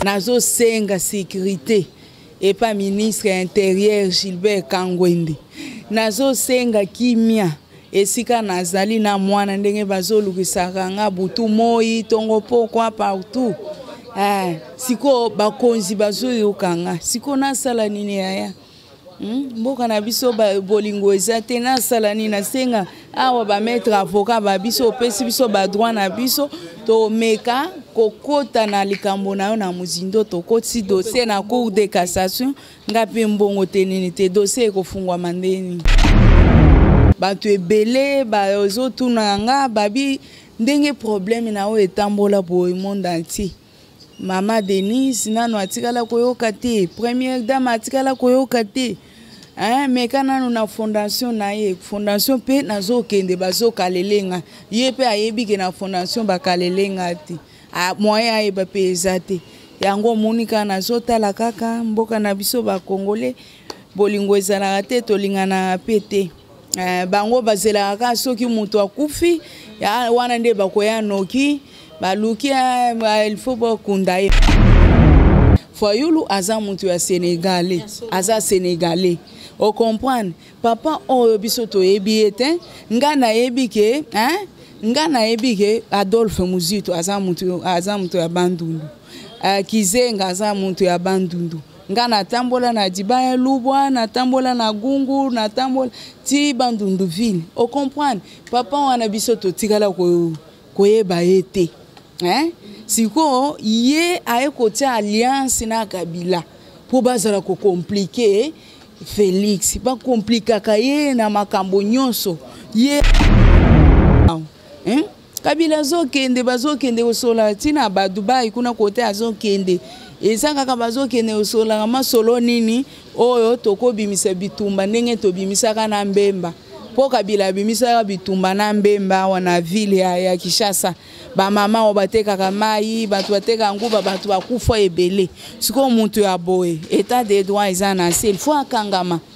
nazosenga sécurité epa ministre ya interieur gilbert kangwende nazosenga kimia esika nazali na mwana ndenge bazolukisaka nga butu moi ntongo pokwa partout eh, sikoyo bakonzi bazoyoka nga sikoyo nasala nini yaya Hmm? mboka na biso bolingo eza te nasala nini nasenga awa bamaître avocat ba biso opesi biso badroit na biso tomeka kokota na likambo na yo na mozindo tokotisi dossier na cour de cassation ngai mpe mbongo te nini te dossier ekofungwama nde nini bato ebele bazotuna nga babi ndenge problème na yo etambola boye monde entier mama denise nano atikala koyoka te première dame atikala koyoka te hein, meka nano na fondation na ye fondation mpe nazokende bazokalele nga ye mpe ayebi ke na fondation bakalele nga te moyen ayeba mpe eza te yango omoni kaka nazotala kaka mboka na biso bakongole bolingo ezalaka te tolinganaka mpe te Eh, bango bazelaka kaka soki moto akufi wana nde bakoya noki baluki eh, il faut bakunda ye fayulu aza moto ya senegale aza senegale ocomprendre papa oyo biso toyebi ye te ngai nayebi ke hein? ngai nayebi ke adolphe muzito aza moto ya bandundu eh, kizenga aza moto ya bandundu nga natambola na dibaya lubwa natambola na gungu natambola ti bandundu ville ocomprendre papa wana biso totikala koyeba ye te eh? sikoyo ye aye kotia alliance na kabila mpo bazala kokomplike felix bakomplikaka ye na makambo nyonso ye eh? kabila azokende bazokende kosola ntina ba dubai kuna kote azokende eza kaka bazokende kosolaka masolo nini oyo tokobimisa bitumba ndenge tobimisaka na mbemba mpo kabila abimisaka bitumba na mbemba awa na ville ya, ya kinshasa bamama oyo batekaka mai bato bateka nguba bato bakufa ebele sikoyo moto ya boye etat de droit eza na se ilfo akangama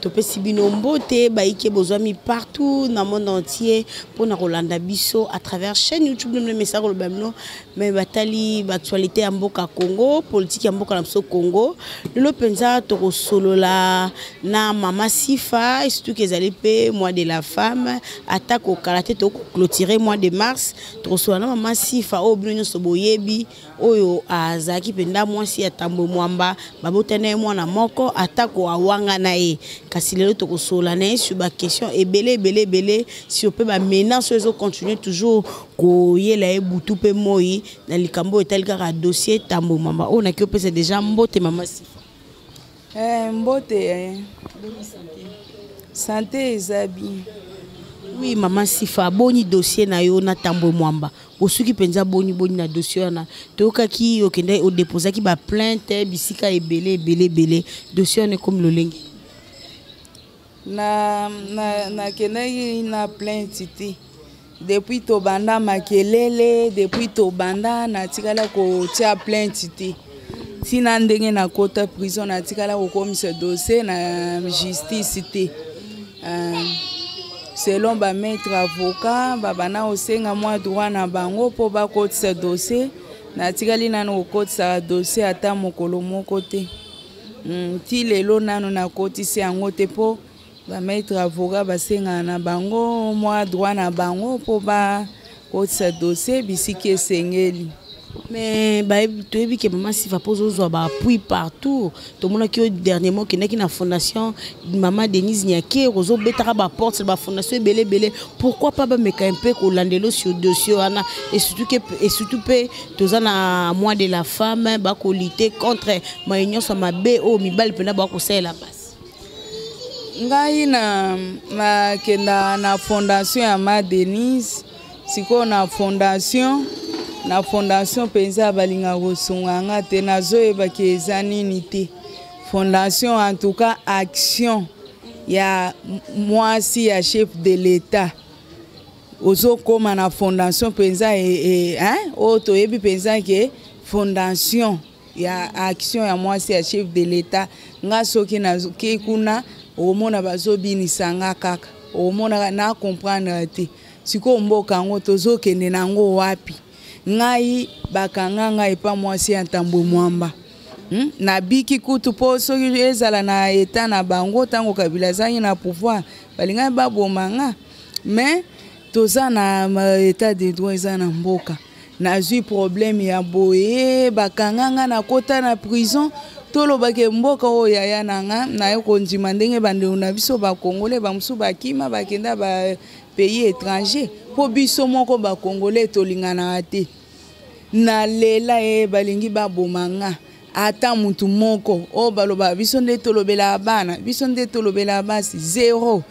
topesi bino mbote baike bozwami partout na monde entier mpo na kolanda biso à travers chaîne youtube nomino mesa koloba bino me batali baactualité ya mboka congo politike ya mboka na biso congo lelo mpenza tokosolola na mama sifa esutuki ezali mpe mois de la femme atako kala te tokoclotire mois de mars tokosolola na mama sifa oyo bino nyonso boyebi oyo azalaki mpenza mwasi ya tambwe mwamba babota na ye mwana moko atako awanga na ye kasi lelo tokosolola na ye sur baquestion ebele ebele ebele sur mpe bamenance oyo ezocontinue toujours koyela ye butu mpe moi na likambo oyo etali kaka dossier tambwe mwamba oyo naki opesa deja mbote mama sifa Eh, mbote eh. sante eza bien oui mama sifa aboni dossier na yo na tambwe mwamba osuki mpenza boni boni na dossier wana toyokaki okende odeposaki baplainte bisika ebele ebele ebele dossier wana ekomi lolenge na na nakendaki na plainte te depuis tobanda makelele depuis tobanda natikala kotia plainte te ntina ndenge nakota prison natikala kokomisa dossier na justice te uh, selon bamaître avocat babanda kosenga mwa droit na bango mpo bakotisa dossier natikali nano kokotisaka dossier ata mokolo moko te Hmm, ti lelo nano nakotisi yango te mpo bamaitre avocat basengana na bango mwa droit na bango mpo bakotisa dossier bisiki esengeli mais toyebi ke mama siva mpo ozozwa baappui partout tomonaki yo dernièrement okendaki na fondation mama denise niake ozobetaka baporte bafondation ebele ebele pourquoi pas bameka mpe kolandelo sur dossier wana esurtout mpe toza na mois de la femme bakolite contre maye nyonso mabe oyo mibali mpena bakosalela basi ngai na nakenda na fondation ya ma denise sikoyo na fondation na fondation mpenza balinga kosunga nga te nazoyebaki eza nini te fondation en tout cas action ya mwasi ya chef de l'etat ozokoma na fondation mpenza e, e, hein? oyo oh, toyebi mpenza ke fondation ya action ya mwasi ya chef de l'etat nga soki nazoki kuna okomona bazobinisa nga kaka okomonaka na comprendre te sikoyo mboka yango tozokende na yango wapi ngai bakanga ngai epa mwasi ya ntambwe mwamba hmm? nabiki kutu mpo soki ezala na eta na bango ntango kabila azangi na pouvoir balingaki baboma nga mais toza na état de droit eza na mboka nazwi problème ya boye bakanga nga nakota na prison tolobaki mboka oyo yaya na nga naye kondima ndenge bandeko na biso bakongole bamosusu bakima bakenda ba pays étranger mpo biso moko bakongole tolinganaka te nalela ye eh, balingi baboma nga ata mutu moko oyo oh, baloba biso nde tolobelaka bana biso nde tolobelaka basi zero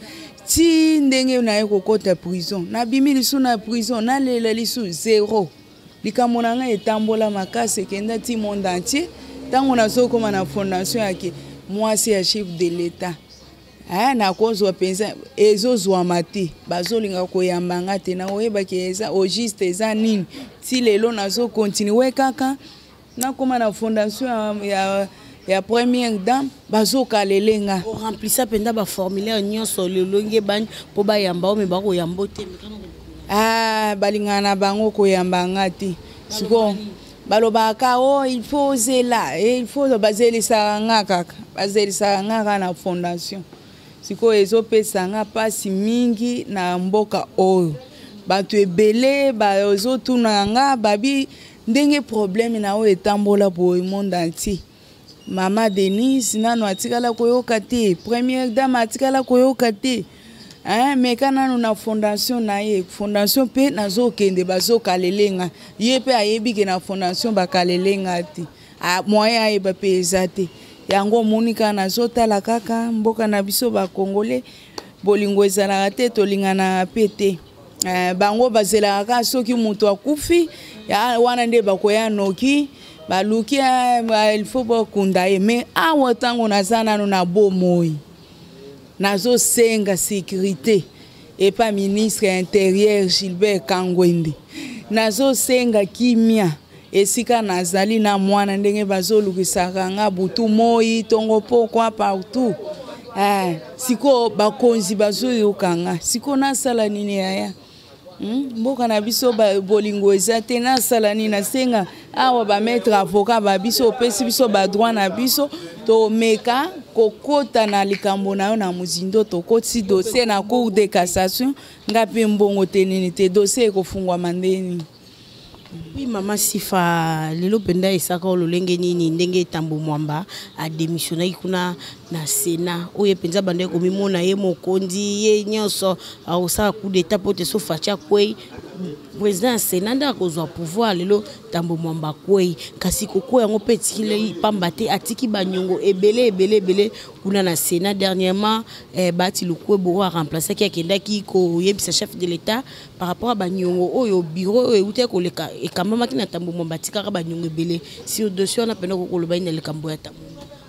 ti ndenge naye kokɔta prison nabimi lisu na prison nalela lisu zero likambo na ngai etambola makasi ekenda ti monde entier ntango nazokoma na fondation yake mwasi ya chef de l'etat aya nakozwa mpenza ezozwama te bazolinga koyamba nga te nakoyebaki eza au juste eza nini ti lelo nazokontinue kaka nakóma na fondation ya, ya ya première dame bazokalele nga oremplisa mpenza baformulaire nyonso lolonge bani mpo bayamba o me bakoyamba te ah, balingana na bango koyamba nga te sikoyo balobaka o oh, il faut ozela eh, il faut bazelisaka nga kaka bazelisaka nga kaka na fondation sikoyo ezopesa nga mpasi mingi na mboka oyo bato ebele bazotunaka nga babi ndenge probleme na oyo etambola boye monde entier mama denise nano atikala koyoka te première dame atikala koyoka te hein, meka nano na fondation na ye fondation mpe nazokende bazokalele nga ye mpe ayebi ke na fondation bakalele nga te moyen ayeba mpe eza te yango omoni kaka nazotala kaka mboka na biso bakongole bolingo ezalaka te tolinganaka mpe te Eh, bango bazelaka kaka soki moto akufi wana nde bakoya noki baluki eh, il faut bakunda ye mais awa ntango naza nano na bomoi nazosenga sécurité epa ministre ya interieur gilbert kangwende nazosenga kimia esika nazali na mwana ndenge bazolukisaka nga butu moi tongo pokwa partout eh, sikoyo bakonzi bazoyoka nga sikoyo nasala nini yaya hmm? mboka na biso bolingo eza te nasala nini nasenga awa bamaître avocat ba biso opesi biso badroit na biso tomeka kokota na likambo na yo na mozindo tokotisi dossier na cour de cassation ngai mpe mbongo te nini te dossier ekofungwama nde nini Oui, maman Sifa, lelo penda esaka ololenge nini ndenge tambo mwamba a démissionnaki kuna na Sénat. Oye penza bande ko mimona ye mokonzi ye nyonso akosala coup d'état pote so facha kwei président ya Sénat nda akozwa pouvoir lelo tambo mwamba kwei kasi kokwei yango mpe etikilei pamba te atiki banyongo ebele ebele ebele kuna na Sénat dernièrement eh, bati lukwebo oyo aremplaçaki akendaki koyebisa chef de l'État par rapport à banyongo oyo oh, bureau oyo euta koleka ekambamaki na tambo mwa batikaka banyongo ebele sur dossier wana mpena kokoloba ye na likambo ya tambo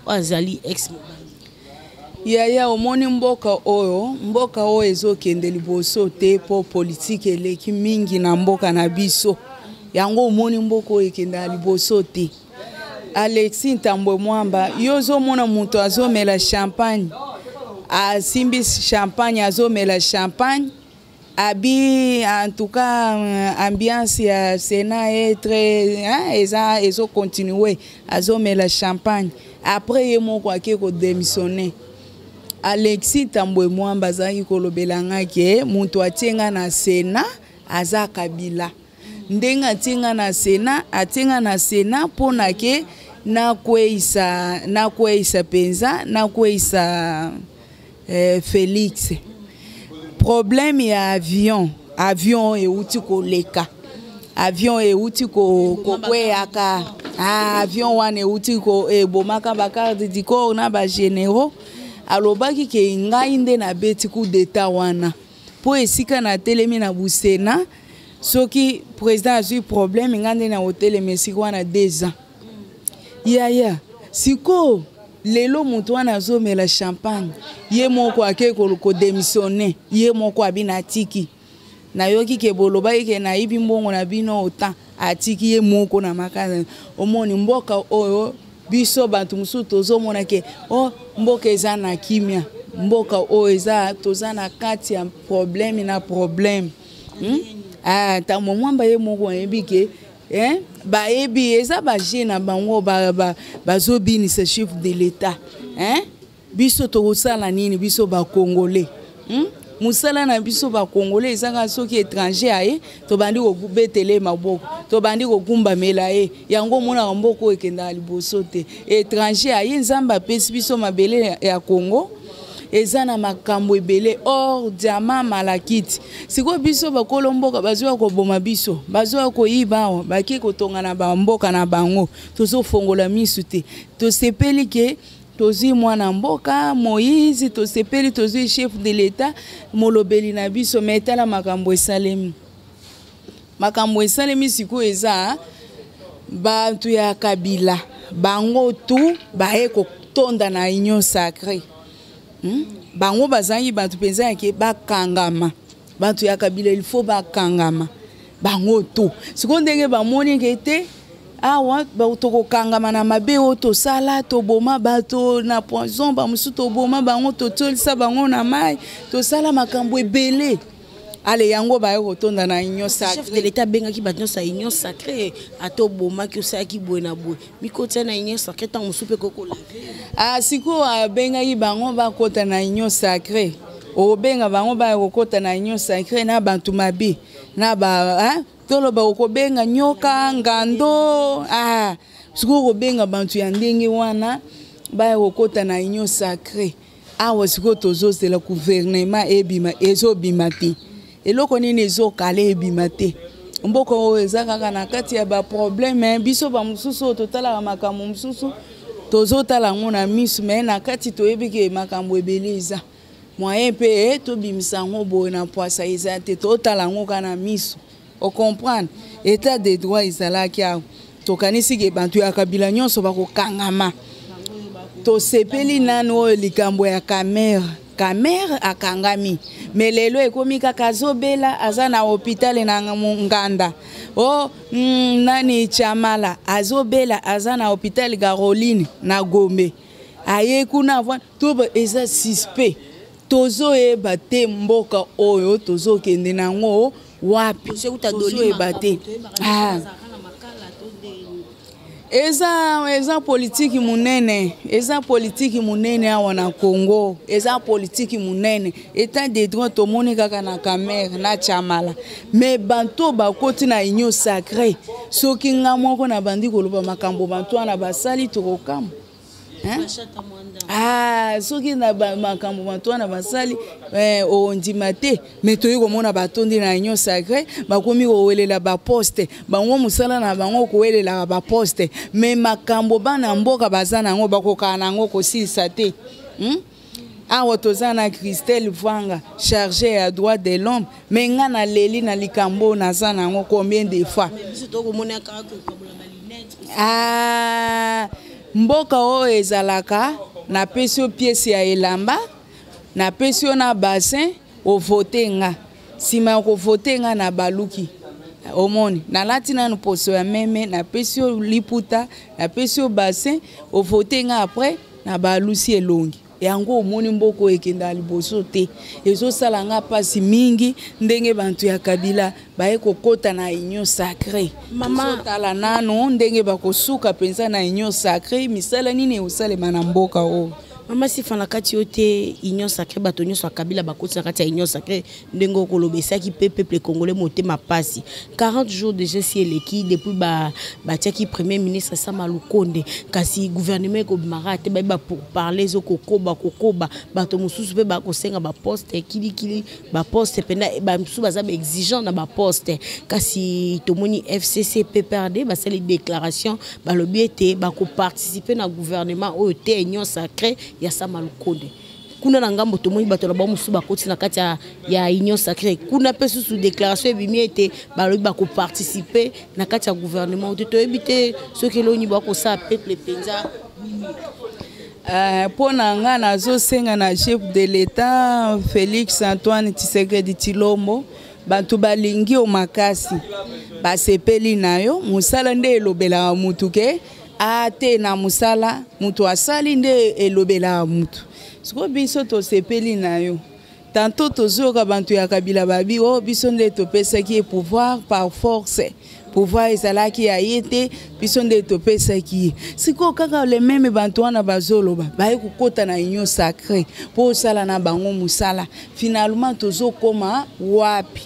oyo azali ex yaya omoni mboka oyo mboka oyo ezokende liboso te mpo politike eleki mingi na mboka na biso yango omoni mboka oyo ekendaka liboso te alexi ntambwe mwamba yo ozomona moto azomela champagne asimbi champagne azomela champagne abi en tout cas euh, ambiance ya Sénat est très hein, eza ezo continuer azomela champagne après ye moko ake ko démissionner Alexis Tambwe Mwamba azalaki kolobela ngai ke moto atie ngai na Sénat aza Kabila ndenge atie nga na sena atie nga na sena mpo na ke nakweisa nakweisa mpenza nakweisa eh, félix problème ya avion avion euti koleka avion euti kokweyaka ko ah, avion wana euti ebomaka bacarde du corps na bagénéraux alobaki ke ngai nde nabeti coup d'état wana mpo esika natelemi na busena soki président azwi problème ngai nde nakotelema esika wana deux ans yaya sikoyo lelo moto wana azomela champagne ye moko ake kodemissione ye moko abina atiki nayoki ke bolobaki ke nayibi mbongo na bino otan atiki ye moko na makasi omoni mboka oyo biso bantu mosusu tozomona ke o oh, mboka eza na kimia mboka oyo eza toza na kati ya probleme na probleme hmm? ah, ntango mwamba ye moko ayebi ke eh? bayebi eza baje na bango bazobinisa ba, ba chef de l'etat eh? biso tokosala nini biso bakongole hmm? mosala na biso bakongole ezaka soki étranger aye tobandi kobetela ye maboko tobandi kokumbamela ye yango omonaka mboka oyo ekendaka liboso te étranger aye nzambe apesi biso mabele ya congo eza na makambo ebele or diama malakiti sikoyo biso bakolo mboka bazoya koboma biso bazoya koyiba awa bake kotonga na bamboka na bango tozofongola misu te tosepeli ke tozwi mwana mboka moïse tosepeli tozwi chef de l'etat molobeli na biso me etala makambo esalemi makambo esalemi sikoyo eza bato ya kabila bango tu baye kotonda na union sacré hmm? bango bazangi bato mpenza yake bakangama bato ya kabila il faut bakangama bango to sikoyo ndenge bamoni eke te awa tokokangama na mabe oyo tosala toboma bato na poison bamosusu toboma bango totyolisa bango na mai tosala makambo ebele ale yango baye kotonda na union sacre de leta abengaki bato nyonso ya union sacre ata obomaki osalaki boye na boye bikotya na union sacré ntango mosusu mpe kokola ah, sikoyo abengaki bango bakota na union sacré okobenga bango baya kokota na union sacré na bato mabe na ba toloba okobenga nyoka ngando ah, sikoyo okobenga bato ya ndenge wana baya kokota na union sacré awa sikoyo tozozela guvernema ebima ezobima te eloko nini ezokala ebima te mboka oyo eza kaka na kati ya baprobleme biso bamosusu oyo totalaka makambo mosusu tozotala yango na miso me na kati toyebi ke makambo ebele eza moyen mpe eh, tobimisa yango boye na pwasa eza te totala yango kaka na miso o comprendre état de droit ezalaki awa tokanisi ke bato ya kabila nyonso bakokangama tosepeli nanu oyo likambo ya kamere kamere akangami me lelo ekomi kaka azobela aza na hopitale na nganda o oh, mm, nani chamala azobela aza na hopitale caroline na gombe aye kuna to eza suspect tozoyeba te mboka oyo tozokende na yango wapi tozoyeba te ah. eza eza politiki monene eza politiki monene awa na congo eza politiki monene etat de droit tomoni kaka na camere na chamala me banto bakoti na union sacre soki nga moko nabandi koloba makambo banto wana basali tokokama Ah, soki na makambo bato wana basali eh, ondima te me toyei komona batondi na union sacré bakomi kowelela baposte bango mosala na bango kowelelaka baposte me makambo bana mboka baza na yango bakokaka na yango kosilisa te hmm? awa toza na christelle vwanga charge ya droit de l'homme me nga naleli na likambo oyo naza na yango combien de fois ah, mboka oyo ezalaka napesi yo piese ya elamba napesi yo na bassin ovote nga nsima ya kovote nga na baluki omoni nalati nanu poso ya meme napesi yo liputa napesi yo bassin ovote nga après na balusi elongi yango omoni mboka oyo ekendaka liboso te ezosala nga mpasi mingi ndenge bantu ya kabila baye kokɔta na union sacré tala nano ndenge bakosuka mpenza na union sacré misala nini ekosalema na mboka oyo mama sifa na kati yo te union sacré bato nyonso ya kabila bakoti na kati ya union sacré ndenge okoloba esaki mpe peuple congolais motema mpasi 40 jours déjà si eleki depuis batiaki ba premier ministre sama lukonde kasi gouvernement ekobimaka te bayeba pour parler ezokokoba kokoba bato mosusu mpe bakosenga baposte kilikili baposte mpena bamosusu baza baexigent na baposte kasi tomoni fcc pprd basali déclaration balobi ete bakoparticipe na gouvernement oyo te union sacré ya sama lukonde kuna na ngambo tomoni bato na bango mosusu bakoti na kati ya, ya union sacré kuna mpe susu déclaration ebimi ete balobi bakoparticipe na kati ya gouvernement te toyebi te soki eloni bakosala peuple mpenza eh, mpo na ngai nazosenga na chef de l'état félix antoine tisekedi tilombo bato balingi yo makasi basepeli na yo mosala nde elobelaka motu ke Ah, te na musala mutu asali nde elobela mutu sikoyo biso tosepeli na yo tanto tozoyoka bantu ya kabila babi o oh, biso nde topesaki ye pouvoir par force pouvoir ezalaki ya ye te biso nde topesaki ye sikoyo kaka lememe bantu wana bazoloba baye kokɔta na union sacré mpo osala na bango mosala finalement tozokoma wapi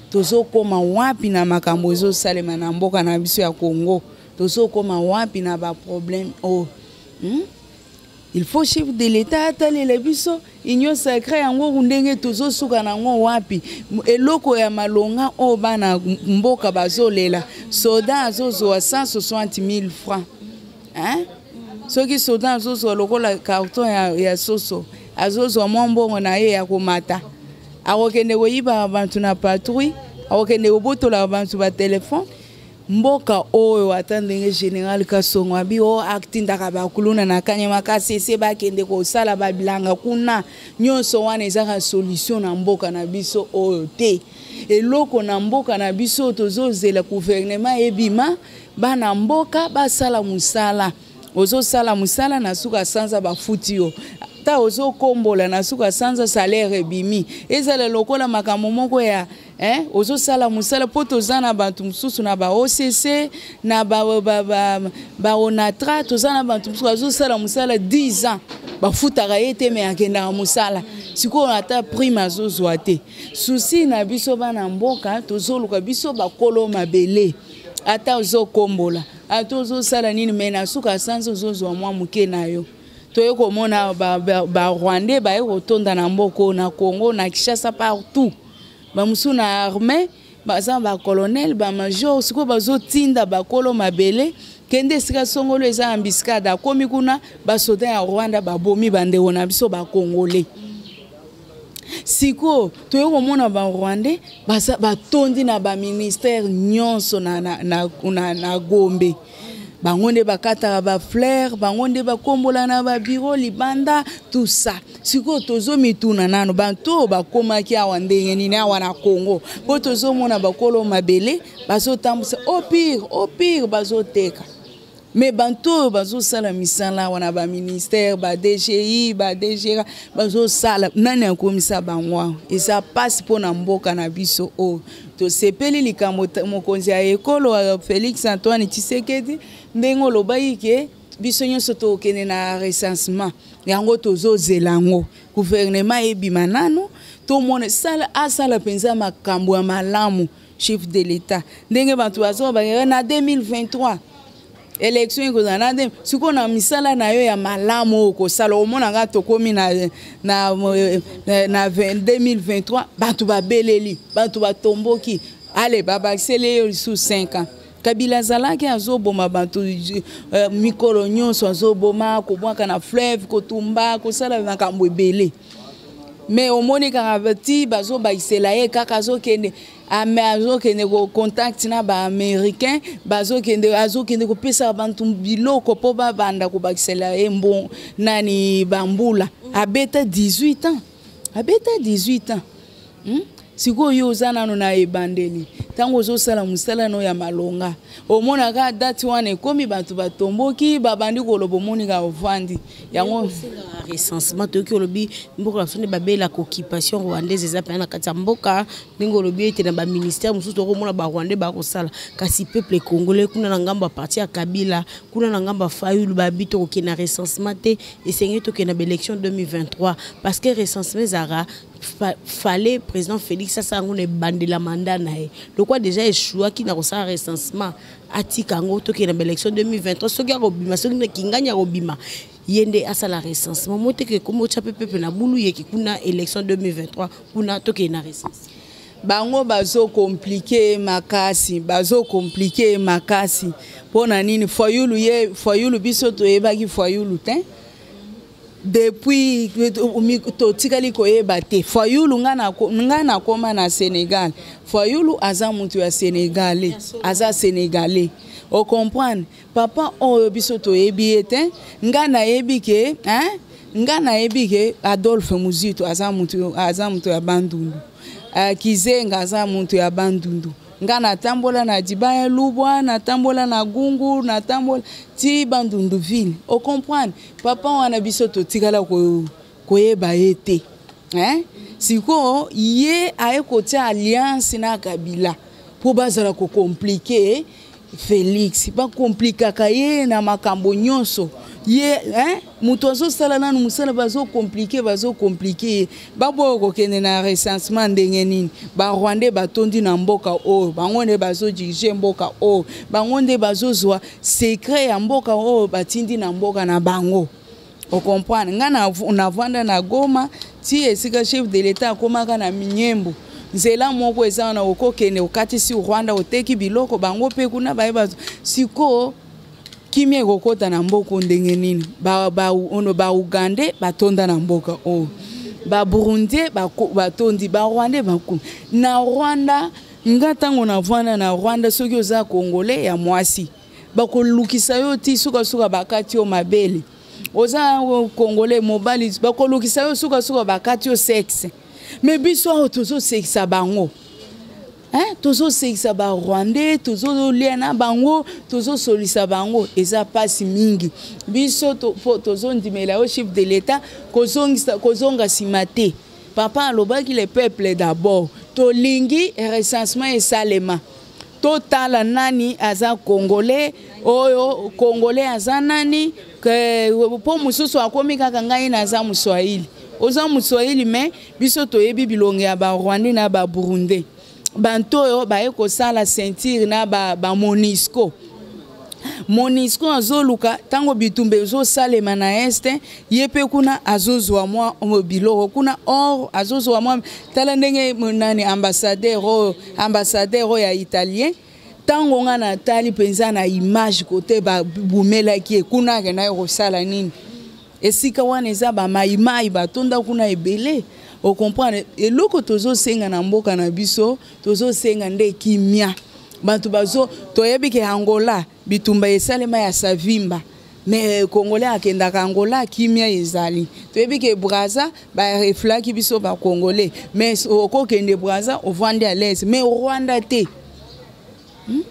tozokoma wapi na makambo ezosalema na mboka na biso ya congo tozokoma wapi na baproblème oyo oh. hmm? il faut chef de l'état atalela biso union sacré yango ndenge tozosuka na yango wapi eloko ya malonga oyo oh, bana mboka bazolela soda azozwa 160 000 francs hein? soki soda azozwa lokola carton ya, ya soso azozwa mwa mbongo na ye ya komata akokende koyibaka bato na patrouille akokende kobotola bato batelefone mboka oyo ata ndenge général kasongo abi o atindaka bakuluna na kanyama kasi ese bakende kosala babilanga kuna nyonso wana ezaka solution na mboka na biso oyo te eloko na mboka na biso tozozela guvernema ebima bana mboka basala mosala ozosala mosala na suka sanza bafuti yo ata ozokombola na suka sanza salaire ebimi ezala lokola makambo moko ya Hein? ozosala mosala mpo toza na bato mosusu na ba occ na baonatra toza na bato mosusu bazosala mosala 10 ans bafutaka ye te me akendaka mosala sikoyo ata prime azozwa te susi na biso bana mboka tozoluka biso bakolo mabele ata ozokombola ata ozosala nini me na suka sanza ozozwa mwa moke na yo toye komona barwandais baye kotonda na mboka oyo na congo na kinshasa partout bamosusu na armée baza ba colonel ba major sikoyo bazotinda bakolo mabele kende esika songolo eza ambiscade akomi kuna basoda ya rwanda babomi bandeko na biso bakongole sikoyo toye komona barwandais batondi na baministère nyonso na, na, na, na, na gombe bango nde bakataka bafleur bango nde bakombola na babiro libanda tout ça sikoyo tozomituna nano bato oyo bakomaki awa ndenge nini awa na congo mpo tozomona bakolo mabele bazotambwisa au pire au pire bazoteka me bato oyo bazosala misala awa na baministère badgi badgra bazosala nani akomisa bango awa eza mpasi mpo na mboka na biso oyo tosepeli likambo mokonzi ya ekolo euh, félix antoine tshisekedi ndenge olobaki ke biso nyonso tokende na recensement yango tozozela yango guvernema ebima nano tomona asala mpenza makambo ya malamu chef de l'etat ndenge bato bazoba na 2023 election ekozala na nde sikoyo na misala na yo ya malamu oyo okosala omona nga tokomi na, na, na, na 2023 bato babeleli bato batomboki ale babakiseli ye lisusu 5 ans kabila azalaki azoboma bato uh, mikolo nyonso azoboma kobwaka na fleuve kotumba kosala makambo ebele me omoni kaka ti bazobakisela ye kaka azokende ame azokende ko contact na ba américain bazokende azokende kopesa bantu biloko mpo babanda kobakisela ye mbo nani bambula abeta 18 ans abeta 18 ans hmm? sikoyo yo oza nano na ebandeli ntango ozosala mosala no ya malonga omonaka dati wana ekomi bato batomboki babandi koloba omoni ka ovandi yango osengaka recensement toyoki olobi mboka na biso nde babela coccupation rwandaise eza mpena na kati ya mboka ndenge olobi ete na baministère mosusu tokomona barwandais bakosala kasi peuple congolais kuna na ngambo ya parti ya kabila kuna na ngambo ya fayulu babi tokokende na recensement te esengeli tokende na baélection 2023 parce que recensement ezalaka fallait président félix asala yango na ebandela mandat na ye lokwa déjà echouaki na kosala recensement atika yango tokende ba élection 2023 soki akobima soki na kingani akobima ye nde asala recensement moteke ekomi otya mpe pepe na bulu yeki kuna élection 2023 kuna tokende na recensement bango bazokomplike makasi bazokomplike makasi mpo na nini fayulu ye fayulu biso toyebaki fayulu te depuis totikali koyeba te fayulu ngai nakoma na sénégal fayulu aza moto ya sénégalais aza sénégalais ocomprendre papa oyo biso toyebi ye te ngai nayebi ke hein? ngai nayebi ke adolphe muzito aza moto aza moto ya bandundu uh, kizenga aza moto ya bandundu ngai natambola na dibaya lubwa natambola na gungu natambola ti bandundu ville ocomprendre papa wana biso totikala koyeba ye te eh? sikoyo ye aye kotia alliance na kabila mpo bazala kokomplike felix bakomplikaka ye na makambo nyonso ye eh? moto azosala nanu mosala bazokomplike bazokomplike ye baboya kokende na recensement ndenge nini barwandais batondi na mboka oyo bango nde bazodirige mboka oyo bango nde bazozwa secret ya mboka oyo batindi na mboka na bango okomprendre ngai navanda na goma ti esika chef de l'etat akomaka na minyembo nzela moko eza wana okokende okatisi rwanda oteki biloko bango mpe kuna baye bazo sikoyo kimia ekokota na mboka ndenge nini ono baugandais batonda na mboka oyo baburundais batondi barwandais bakumi na rwanda nga ntango navanda na rwanda soki oza kongole ya mwasi bakolukisa yo ti sukasuka bakati yo mabele oza kongole mobali bakolukisa yo sukasuka bakati yo sexe me biso awa tozosekisa bango eh, tozosekisa barwandais tozolia na bango tozosolisa bango eza mpasi mingi biso tozondimela to yo chef de l'etat kozonga nsima te papa alobaki le peuple d'abord tolingi recensement esalema totala nani aza congolais oyo congolais aza nani mpo mosusu akomi kaka ngai naza moswahili oza moswahili me biso toyebi bilongi ya barwandais na baburundais bantu oyo baye kosala ceinture na ba, ba monisco monisco azoluka ntango bitumba ezosalema na este ye mpe kuna azozwa mwa biloko kuna or azozwa mwa tala ndenge nani ambassadeur oyo ambassadeur oyo ya italien ntango ngai natali mpenza na image kote babumelaki ye kuna akendaki kosala nini esika wana eza bamaimai batonda kuna ebele okomprendre eloko tozosenga na mboka na biso tozosenga nde kimia bato bazo toyebi ke angola bitumba esalema ya savimba mais congolais akendaka angola kimia ezali toyebi ke braza bareflaki biso bacongolais mais okokende braza ovandi alaise mais rwanda te hmm?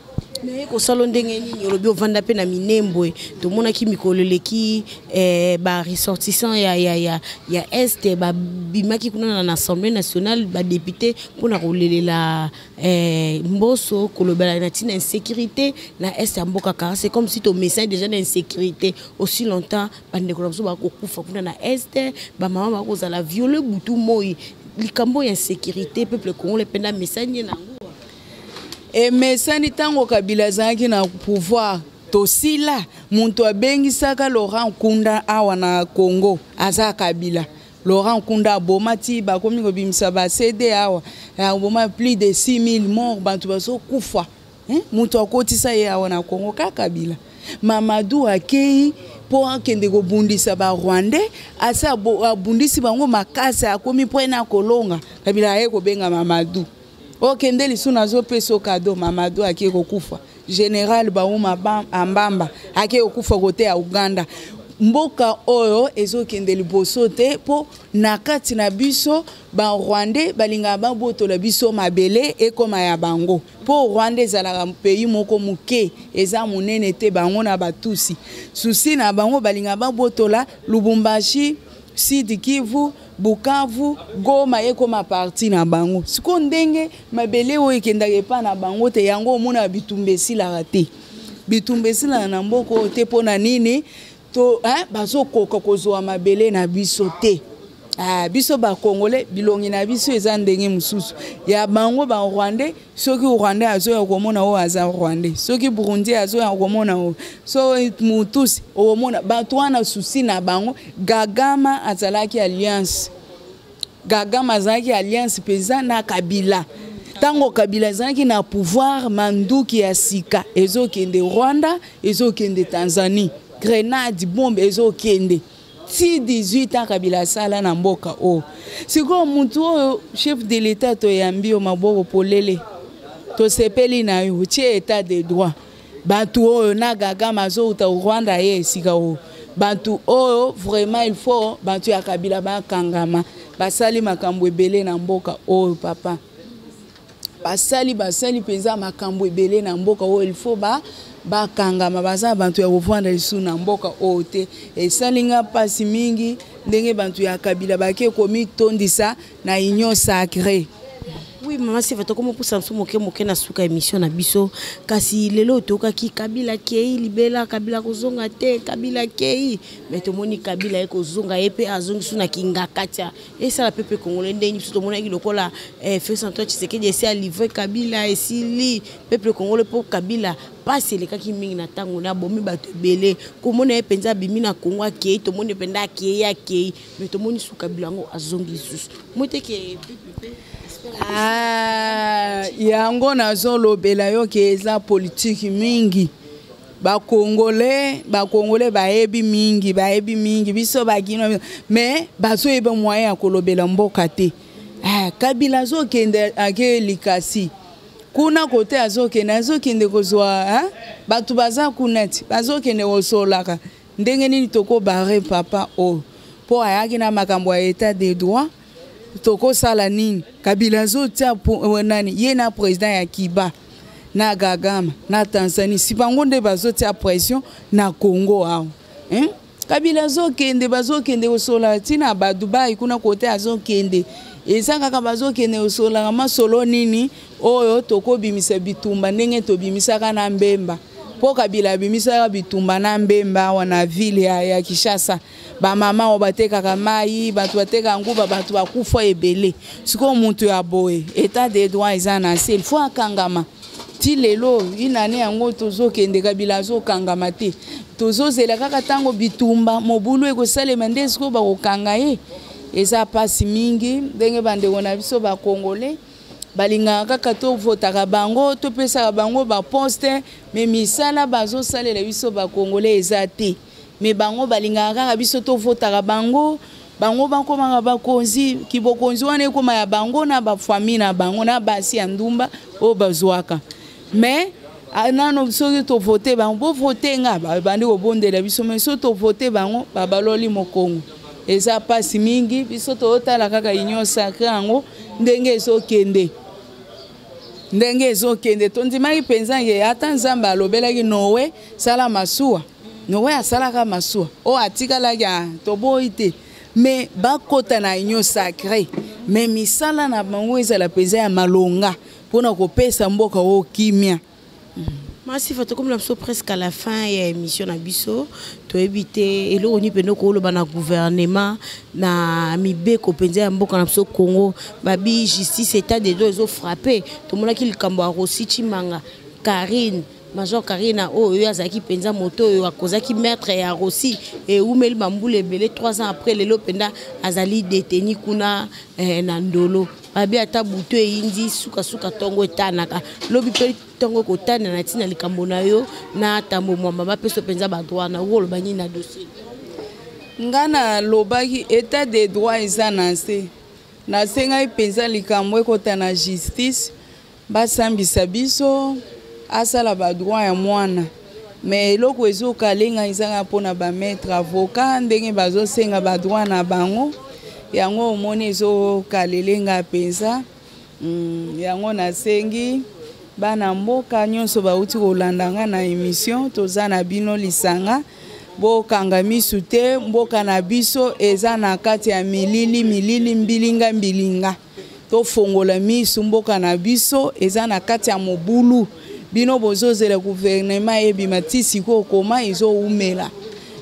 naye kosala ndenge nini olobi ovanda mpe na minembwe tomonaki mikolo eleki eh, baressortissant ya, ya, ya, ya este babimaki kuna na assemblée nationale badepute mpo na kolelela Eh, mboso kolobela na ntina insécurité na est ya mboka kara c'est comme si tomesani déjà na insécurité aussi longtemps bandeko na biso bakokufa kuna na est bamama bakozala viole butu moi likambo ya insécurité peuple congolais mpe na mesani ye na yango emesani ntango kabila azalaki na pouvoir tosila moto abengisaka laurent nkunda awa na congo aza kabila Laurent Nkunda aboma ti bakomi kobimisa ba CD awa aboma plus de 6000 morts bantu bazokufa eh? moto akotisa ye awa na Congo kaka Kabila Mamadou akei mpo akende kobundisa barwandais asi abundisi bango makasi akomi mpo ena kolonga Kabila aye kobenga Mamadou okende lisu nazopesa kado mamado ake kokufa general bauma ambamba ake kokufa kote ya uganda mboka oyo ezokende liboso te mpo na kati na biso barwandais balingaka babotola biso mabele ekoma ya bango mpo rwanda ezalaka pays moko moke eza monene te bango na batusi susi na bango balingaka babotola lubumbashi sud kivu Bukavu, Goma ekoma parti na bango. Siko ndenge mabele oyo ekendaka epa na bango te yango omona bitumba esilaka te. Bitumba esilaka na mboka oyo te mpo na nini to hein, bazokoka kozwa mabele na biso te. Ah, biso bakongole bilongi na biso eza ndenge mosusu ya bango barwandais soki rwandais azoya okomona oyo aza rwandais soki burundi azoya okomona oyo so mutusi okomona bato wana susi na bango gagama azalaki alliance gagama azalaki alliance mpenza na kabila ntango kabila azalaki na pouvoir manduki ya sika ezokende rwanda ezokende tanzanie grenade bombe ezokende ti 18 ans kabila asala na mboka oyo sikoyo motu oyo chef de l'etat toyambi yo maboko polele tosepeli na yo otie etat de droit bato oyo na gagama azouta rwanda ye esika oyo bato oyo vraiment il faut bato ya kabila bakangama basali makambo ebele na mboka oyo papa basali basali mpenza makambo ebele na mboka oyo il faut ba bakangama baza bantu ya kovanda lisusu na mboka oyo te esali nga mpasi mingi ndenge bantu ya kabila bake komitondisa na union sacrée oui mama seva tokoma opusa biso moke moke na suka émission na biso kasi lelo oyo toyokaki kabila kei libela kabila kozonga te kabila kei me tomoni kabila ye kozonga ye mpe azongi su na kingakatia esala pepe congolais ndenge biso tomonaki lokola eh, félix antoine tshisekedi esi alivre kabila esili pepe congolais mpo kabila mpasi elekaki mingi na ntango na abomi bato ebele komona ye mpenza abimi na kongo akei tomoni mpenza akei akei me tomoni su kabila yango azongi lisusu moteke ah, yango nazolobela yo ke eza politiki mingi bakongole bakongole bayebi mingi bayebi mingi biso bakino me bazoyeba moyen ya kolobela mboka te ah, kabila azokende ake likasi kuna kote azokende azokende kozwa eh? bato baza kuna ti bazokende kosolaka ndenge nini tokobare papa oyo oh. mpo ayaki na makambo ya etat de droit tokosala nini kabila azotia eh, nani ye na president ya kiba na gagama na tanzanie si bango nde bazotia pression na congo awa hein? kabila azokende bazokende kosola ntina badubai kuna kote azokende eza kaka bazokende kosolaka masolo nini oyo tokobimisa bitumba ndenge tobimisaka na mbemba mpo kabila abimisaka bitumba na mbemba awa na ville ya, ya kishasa bamama oyo batekaka mai bato bateka nguba bato bakufa ebele sikoyo moto ya boye etat de droit eza na nse ilfo akangama ti lelo inane yango tozokende kabila azokangama te tozozela kaka ntango bitumba mobulu ekosalema nde sikoyo bakokanga ye eza mpasi mingi ndenge bandeko na biso bakongole balingaka kaka tovotaka bango topesaka bango baposte me misala bazosalela biso bakongole eza te mais bango balingaka kaka biso tovotaka bango bango bakomaka bakonzi kibokonzi wana ekoma ya bango na bafamille na bango na basi ya ndumba oyo bazwaka mais ah, nano soki tovote bango bovote nga babandi kobondela biso mai soki tovote bango babaloli mokongo eza mpasi mingi biso totala kaka union sacre yango ndenge ezokende ndenge ezokende tondimaki mpenza ye ata nzambe alobelaki noe sala masuwa noko oyo asalaka masuwa oyo atikalaki ah, toboyi te me bakota na union sacré me misala na bango ezala mpenza ya malonga mpo na kopesa mboka oyo kimia masifa tokomela biso presque à la fin ya émission na biso toyebi te eloko nini mpenza okoloba na gouvernement na mibeko mpenza ya mboka na biso congo babi justice état de do ezofrappe tomonaki likambo ya rosi chimanga karine Major Karina oyo oyo azalaki mpenza moto oyo akozaki maître ya Rossi ewumeli bambula ebele 3 ans après lelo mpenza azali deteni kuna eh, na ndolo babi ata butu eyindi sukasuka ntongo etanaka lobi mpe ntongo ekotana na ntina likambo na yo na tambo mwamba bapesa mpenza badroit na okoloba nini na dossier ngai nalobaki état de droit eza na nse nasengaki mpenza likambo ekota na justice Basambisa biso asala ba droit ya mwana mais eloko ezokalenga ezanga mpona ba maître avocat ndenge bazosenga ba droit na bango yango omoni ezokalelenga mpenza mm, yango nasengi bana mboka nyonso bauti kolanda nga na emission toza na bino lisanga bokanga misu te mboka na biso eza na kati ya milili milili mbilinga mbilinga tofongola miso mboka na biso eza na kati ya mobulu bino bozozela guvernema ebima ti sikoyo koma ezowumela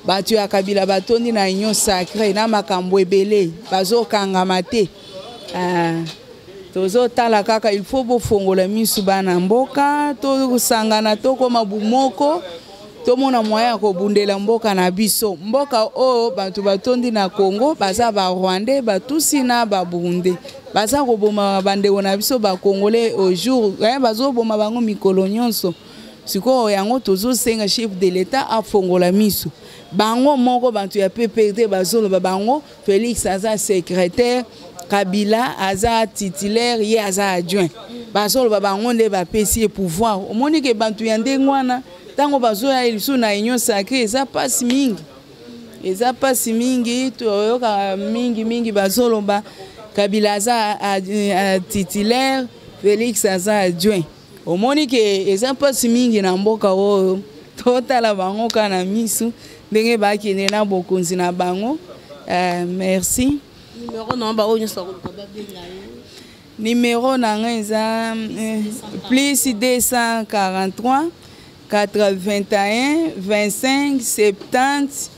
bato ya kabila batondi na union sacre na makambo ebele bazokangama te ah, tozotala kaka il faut bofongola miso bana mboka tosangana tokoma bumoko tomona moyen ya kobundela mboka na biso mboka oyo bato batondi na congo baza barwandais batusi na baburundais baza koboma bandeko na biso bakongolais au jour eh, bazoboma bango mikolo nyonso sikoyo yango tozosenga chef de l'etat afongola miso bango moko bato ya pprd bazoloba bango Felix aza secrétaire, Kabila aza titulaire, ye aza adjoint. Bazoloba bango nde bapesi ye pouvoir. Omoni ke bantu ya ndenge wana ntango bazoya lisu na union sacrée eza mpasi mingi. Eza mpasi mingi, toyoka mingi mingi bazoloba Kabila aza titulaire, Felix aza adjoint. omoni ke eza mpasi mingi na mboka oyo totala bango kaka na misu ndenge bakende na bokonzi na bango uh, merci numero na bango nyonso bakoluka babenga ye numero na ngai eza eh, plus 243 81 25 70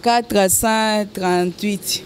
438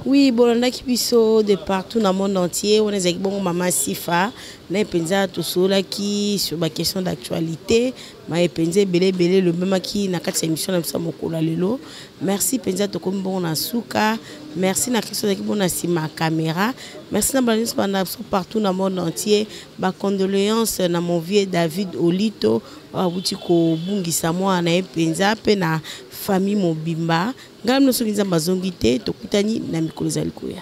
oui bolandaki biso de partout na monde entier wana ezalaki bongo mama sifa naye mpenza tosololaki sur baquestion d'actualité maye mpenza ebele ebele elobemaki na kati ya émission na biso ya mokolo ya lelo merci mpenza tokomi bongo na suka merci na kristo azalaki bongo na nsima ya caméra merci na bana nyonso bana biso partout na monde entier bacondoléance na mon vieux david olito awuti kobungisa mwana na ye mpenza mpe na famille mobimba ngai mino soki nzambe azongi te tokutani na mikolo ezali koya